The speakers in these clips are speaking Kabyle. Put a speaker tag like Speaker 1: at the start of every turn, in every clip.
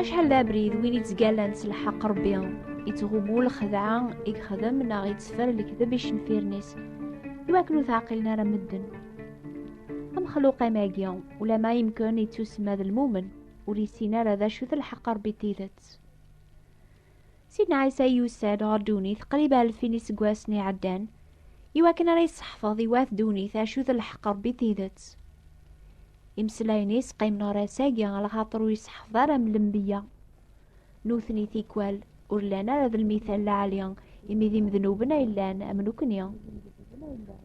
Speaker 1: Acḥal d abrid win i ttgallan s lḥeq Rebbi, ittɣumu lxedɛa i yexdem neɣ itteffer lekdeb icenfiren-is, iwakken ur teɛqilen ara medden. Amexluq amagi, ulama yemken yettusma d lmumen, ur yessin ara d acu-t lḥeq Rebbi tidet. Sidna Ɛisa yusa-d ɣer ddunit qrib alfin iseggasen iɛeddan iwakken ara yesseḥfeḍ i wat ddunit acu d lḥeqq Rebbi tidet. Imeslayen-is qqimen ɣer ass-agi lxaṭer ur yesseḥfeḍ ara am lembiya. Nutni tikwal ur llan ara d lmithal lɛali imi d imednuben ay llan am nekkni.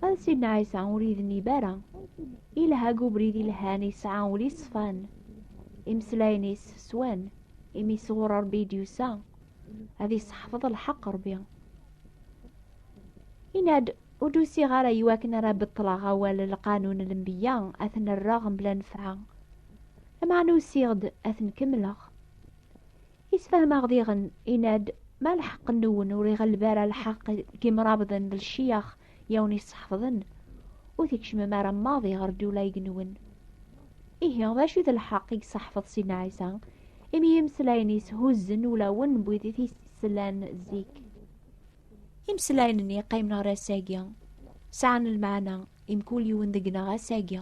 Speaker 1: Ma d Sidna Ɛisa ur yednib ara. Ilha deg ubrid ilhan yesɛa ul yeṣfan. Imeslayen-is swan. imi sɣur ṛebbi i d-yusa ad iseḥfeḍ lḥeq ṛebbi inad ur d-usiɣ ara i wakken ara beṭṭleɣ awal lqanun n lembeyya ad ten-rreɣ mebla nefɛa lameɛna usiɣ-d ad ten-kemmleɣ isfahmeɣ diɣen inad ma lḥeqq nwen ur iɣelleb ara lḥeqq n yimrabḍen d lciyax Yawen yesseḥfḍen, ur tkecmem ara maḍi ɣer Dulayg-nwen. Ihi, d acu i d lḥeqq i yesseḥfeḍ Sidna Ɛisa, imi imeslayen-is huzzen ulawen n wid i t-yeslan zik? Imeslayen-nni yeqqimen ɣer ass-agi, sɛan lmeɛna i mkul yiwen deg-neɣ ass-agi.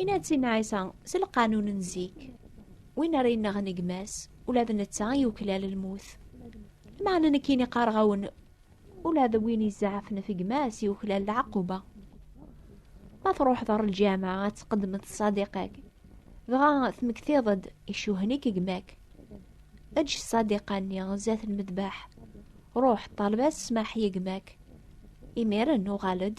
Speaker 1: Inna-tt-in Ɛisa, s lqanun n zik, win ara yennaɣen i gma-s, ula d netta i yuklal lmut. Meɛna nekkini qqareɣ-awen, ula d win izaɛfen ɣef gma-s yuklal lɛaquba. Ma truḥeḍ ɣer lǧameɛ ad tqeddmeḍ ṣṣadiq-ak, dɣa tmektiḍ-d icuhen-ik gma-k. Eǧǧ ṣṣadiqa-nni zdat lmedbaḥ, ruḥ ṭṭaleb-as ssmaḥ i gma-k. Imiren uɣal-d,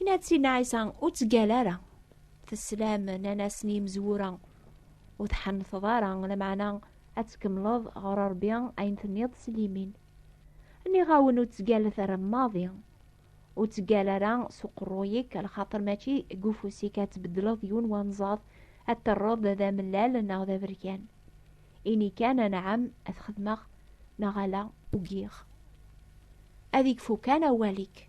Speaker 1: Inna-tt-in Ɛisa, ur ttgal ara. Teslam, nnan-asen yimezwura, ur tḥenteḍ ara, lameɛna ad tkemmleḍ ɣer Rebbi ayen tenniḍ s limin. Nniɣ-awen ur ttgalet ara maḍi. Ur ttgal ara s uqerruy-ik, lxaṭer mačči deg ufus-ik ad tbeddleḍ yiwen wanẓaḍ, ad terreḍ d amellal neɣ d aberkan. Ini kan, anɛam, ad t-xedmeɣ, neɣ ala, ugiɣ. Ad ikfu kan awal-ik.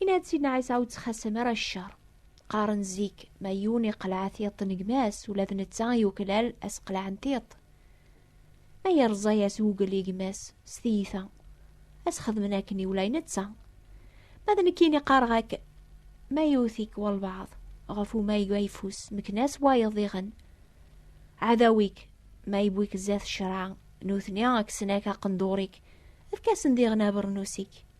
Speaker 1: Inna-d Sidna Ɛisa ur ttxasam ara ccer. Qqaren zik ma yiwen iqleɛ tiṭ n gma-s ula d netta yuklal asqleɛ n tiṭ. Ma yerẓa-as wugel i gma-s s tiyita, ad s-xedmen akken iwlay netta. Ma d nekkini qqareɣ-ak ma yewwet-ik walbaɛḍ ɣef umayeg ayeffus mekna-s wayeḍ diɣen ɛadaw-ik ma yewwi-k zdat ccreɛ nutni kksen-ak aqendur-ik efk-asen diɣen abernus-ik.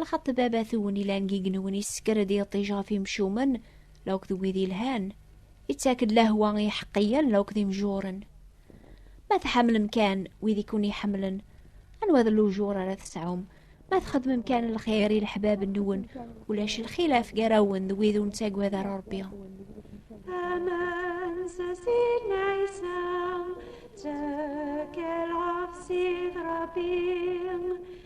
Speaker 2: lxaṭ babat-wen ilan deg yigenwen yessekker-d iṭij ɣef imcumen la akked wid yelhan ittak-d lehwa i iḥeqqiyen la akked imjuren ma tḥemmlem kan wid i ken-iḥemmlen anwa d lujur ara tesɛum ma txedmem kan lxir i leḥbab-nwen ulac lxilaf gar-awen d wid ur nettagad ara Rebbi Aman
Speaker 1: s asidna Isa ttekkel ɣef Sid Rebbi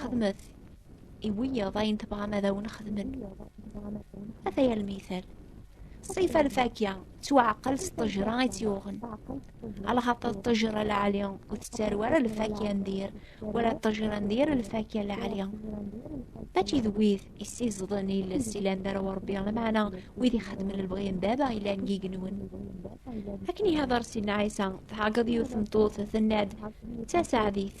Speaker 2: xedmet i wiyaḍ ayen tebɣam ad awen xedmen ata yal mital ṣif alfakya ttwaɛqel s ṭejra i tt-yuɣen alxaṭer ṭejra lɛali ur tettaru ara lfakya n dir wala ṭejra n dir lfakya lɛali mačči d wid issiẓḍen iles ilan d ara urebbi lameɛna wid ixedmen lebɣi n baba ilan gigenwen akken ihadar sidna ɛisa tɛeggeḍ yiwet tmeṭṭut tenna-d d tasaɛdit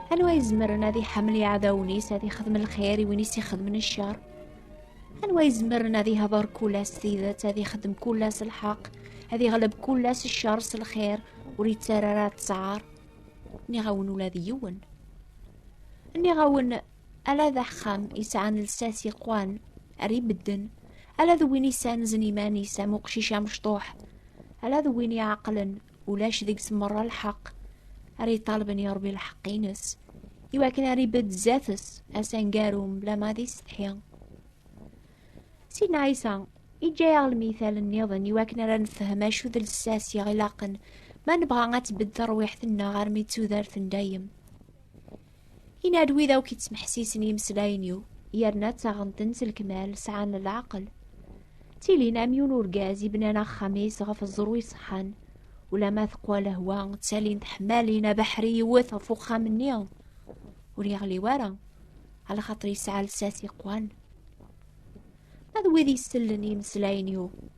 Speaker 2: anwa izemren ad iḥemmel iɛdawen-is ad ixdem lxir i win i s-ixedmen ccer anwa izemren ad ihḍer kul-as tidet ad ixdem kul-as lḥeq ad iɣleb kul-as ccer s lxir ur yettara ara ttɛar nniɣ-awen ula d yiwen nniɣ-awen ala d axxam isɛan lsas iqwan ar ibedden ala d win isanzen iman-is am uqcic amecṭuḥ ala d win iɛeqlen ulac deg-s merra lḥeqq ara iṭalben yerbi lḥeqq-ines iwakken ara ibedd zdat-s asangaru mebla ma d isetḥi sidna ɛisa iǧǧa-yaɣ lmital nniḍen iwakken ara nefhem acu d lsas i ɣ-ilaqen ma nebɣa ad tbedd terwiḥt-nneɣ armi d tudert n dayem Inad wid akk yettmeḥsisen imeslayen-iw, yerna ttaɣen-ten s lekmal, sɛan leɛqel. Ttilin am yiwen urgaz ibnan axxam-is ɣef ẓẓru iṣeḥḥan, ulama teqwa lehwa, ttalin teḥmalin abeḥri iwet ɣef uxxam-nni, ur yeɣli wara, ala xaṭer yesɛa lsas iqwan. Ma d wid isellen i imeslayen-iw,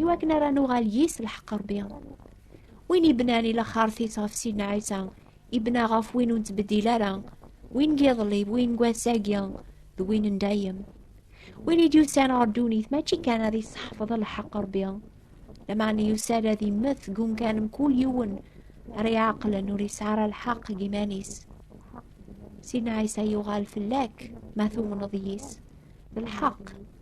Speaker 2: iwakken ara nuɣal yis lḥeqq rebbi win ibnan i laxaṛt-is ɣef sidna ɛisa ibna ɣef win ur nettbeddil ara win n yiḍelli d win n wass-agi d win n dayem win i d-yusan ɣer ddunit mačči kan ad iseḥfeḍ lḥeqq rebbi lameɛna yusa-d ad immet deg umkan mkul yiwen ara iɛeqlen ur yesɛi ara lḥeqq deg iman-is sidna ɛisa yuɣal fell-ak ma tumneḍ yis d lḥeqq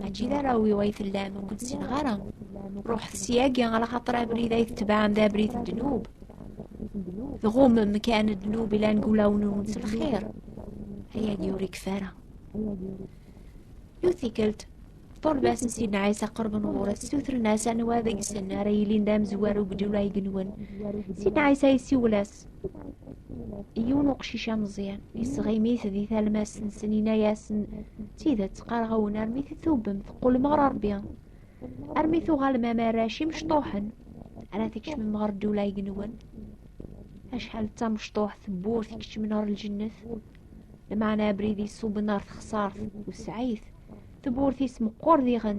Speaker 2: mačči d arraw-iw ay tellam ur kent-ssineɣ ara ruḥet syagi ala xaṭer abrid ay tetebɛem d abrid n ddnub tɣumem kan ddnub ilan deg wulawen-nwen s lxir ayagi ur ikfa ara yiwet tikkelt ṭṭuleb-asen sidna ɛisa qerben ɣur-s sutren-as anwa deg-sen ara yilin d amezwaru deg ddula ay genwen sidna ɛisa yessiwel-as talmast. Yiwen uqcic ameẓyan yesɣim-it di talmast-nsen yenna-yasen tidet qqareɣ-awen armi titubem teqqulem ɣer Rebbi armi tuɣalem am arrac imecṭuḥen ara tkecmem ɣer ddula igenwen acḥal d tamecṭuḥt tewwurt ikecmen ɣer lǧennet lmeɛna abrid iṣuben ɣer texsart wesɛit tewwurt-is meqqur diɣen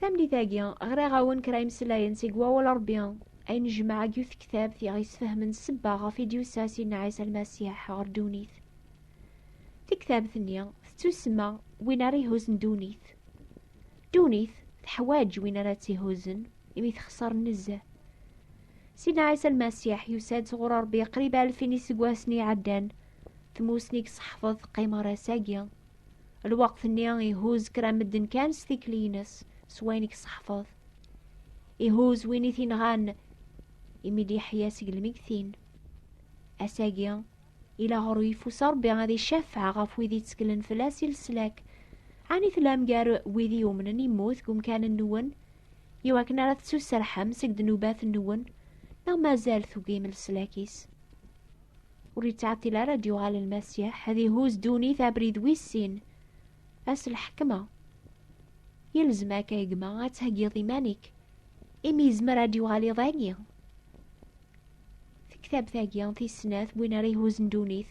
Speaker 2: Tamlit-agi, ɣriɣ-awen kra imslayen seg wawal Rebbi, ay nejmeɛ agi yiwet tektabt i ɣ-yesfehmen ssebba ɣef i d-yusa Sidna Ɛisa Lmasiḥ ɣer ddunit. Tiktabt-nni tettusemma Win ara ihuzzen ddunit. Ddunit teḥwaǧ win ara tt-ihuzzen. imi texṣer nezzeh. Sidna Ɛisa Lmasiḥ yusa-d sɣur Ṛebbi qrib alfin iseggasen iɛeddan. Tmussni i yesseḥfeḍ teqqim ɣer ass-agi. Lweqt-nni ihuz kra medden kan s tikli-ines s wayen i yesseḥfeḍ. Ihuz win i t-inɣan imi d-yeḥya seg lmegtin. Ass-agi, ila ɣer uyeffus Ṛebbi ad icafeɛ ɣef wid yettglen fell-as i leslak. Ɛni tellam gar wid i yumnen immut deg umkan-nwen? Yew akken ara tettuserḥem seg ddnubat-nwen, neɣ mazal tugim leslak-is? Ur yettɛeṭṭil ara ad yuɣal Lmasiḥ, ad ihuz ddunit abrid wis sin, ass lḥekma. Yelzem akka gma ad theggiḍ iman-ik, imi yezmer ad d-yuɣal iḍ-agi. Tektabt-agi tis snat win ara ihuzzen ddunit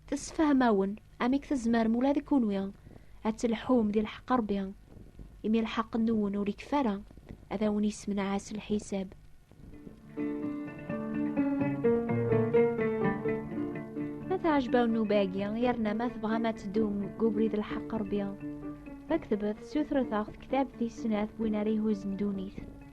Speaker 2: tessefhem-awen amek tzemrem ula d kunwi ad telḥum di lḥeqq Ṛebbi imi lḥeqq nwen ur ikfa ara ad awen yessemneɛ s lḥisab. Ma teɛjeb-awen nnuba-agi yerna ma tebɣam ad teddum deg ubrid n lḥeqq Ṛebbi, faktbet sutret-aɣ tektabt tis snat win ara ihuzzen ddunit.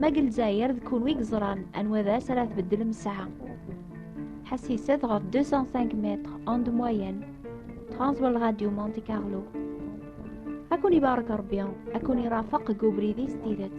Speaker 2: Ma deg Lezzayer d kunwi yeẓran anwa d as ara tbeddlem ssaɛa. Ḥassiset ɣef 205 mètres en de moyenne. Transwal Radio Monte Carlo. Ad kun ibarek Rebbi, ad kun irafeq deg ubrid-is tidet.